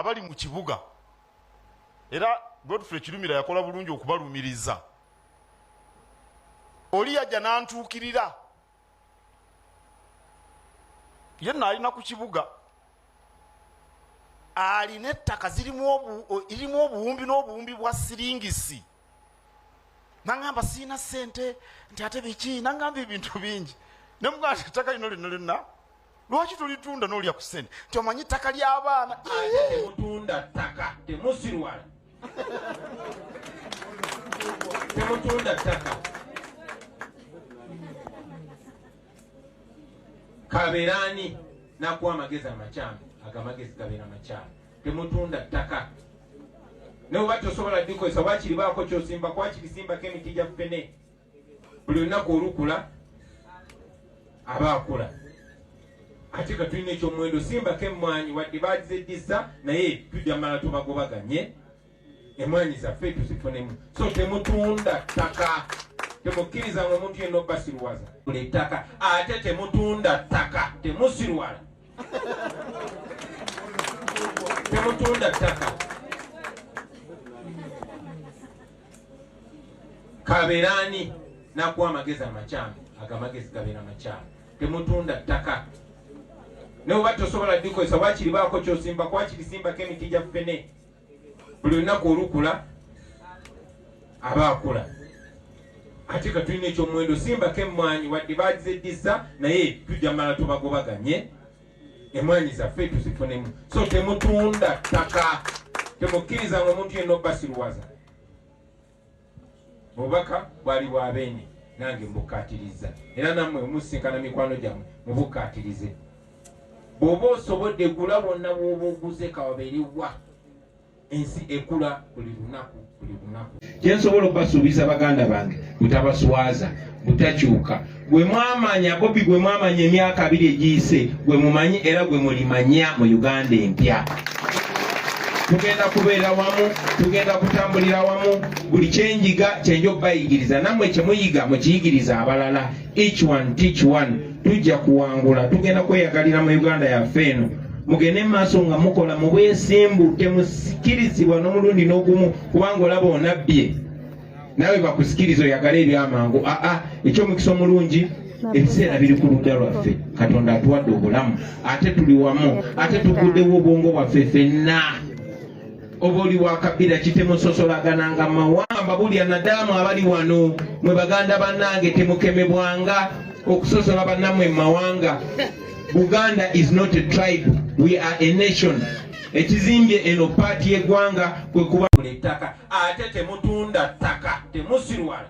abali mu kibuga era godfrey kirumira yakola bulungi okubalumiriza oli yajja nantuukirira ye naalina ku kibuga alina ettaka zirimu obuwumbi n'obuwumbi bwa siringisi nangamba siina sente nti ate biki nangamba ebintu bingi nemugamba ti ettaka lino lino lyonna lwaki tulitunda nolya ku sente nti omanyi ttaka ly'abaana temutunda ttaka temusirwala temutunda ttaka kabeerani nakuwa amagezi amakyamu agamagezi gabeera makyamu Temutunda ttaka ne bwe bati osobola ddikozesa wakiri baako kyosimba kwakiri simbako emiti gya ffene buli lunaku olukula aba akula ate ka tulina ekyomuwendo simbako emmwanyi wadde bagizeddisa naye tujja mala tubagobaganye emwaanyi zaffe tuzifunemu so temutunda ttaka temukkiriza nga omuntu yenna obasiruwaza buli ttaka ate temutunda ttaka temusiruwala temutunda ttaka kabeeraani nakuwa amagezi amakyamu ago amagezi gabeera makyamu temutunda ttaka naye oba tosobola dikozesa wakiri baako kyosimba kwakirisimbako emiti gya ffene buli lunaku olukula aba akula ate ka tulina ekyomuwendo simbako emmwanyi wadde bagizeddisa naye tujja mala tubagobaganye emmwanyi zaffe tuzifunemu so temutunda ttaka temukkiriza nga omuntu yenna obasiruwaza obubaka bwali bwa beene nange mbukkaatirizza era nammwe omusinkana mikwano gyammwe mubukkaatirize bw'oba osobodde gula wonna bw'oba oguze kawabeere wa ensi ekula buli lunaku buli lunaku kyensobola okubasuubiza baganda bange butabaswaza butakyuka gwe mwamanya bobi gwe mwamanya emyaka abiri egiyise gwe mumanyi era gwe mulimanya mu uganda empya tugenda kubeera wamu tugenda kutambulira wamu buli kyenjiga kyenja okubayigiriza nammwe kyemuyiga mukiyigiriza abalala each one teach one tujja kuwangula tugenda kweyagalira mu uganda yaffe eno mugende mumaaso nga mukola mubwesimbu temusikirizibwa n'omulundi n'ogumu kubanga olaba onabbye nawe bakusikiriza oyagala ebyamangu aa ah, ah, ekyomukisa omulungi ebiseera biri ku ludda lwaffe katonda atuwadde obulamu ate tuli wamu ate tuguddewo obwongo bwaffe fenna oba oli wakabira kitemusosolaganaanga mawamba bulya nadaamu abali wano mwe baganda bannange temukemebwanga okusosola bannamwe mu mawanga buganda is not a tribe we are a nation ekizimbye eno paati y'eggwanga kwekuba ettaka ate temutunda ttaka temusirwala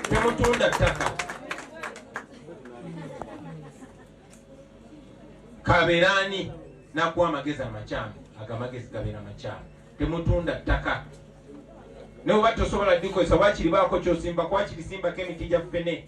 temutunda ttaka kaberani nakuwa amagezi amakyamu ago amagezi gabeera amakyamu temutunda ttaka naye oba tosobola dikozesa wakiri baako kyosimba kwakirisimbako emiti gya ffene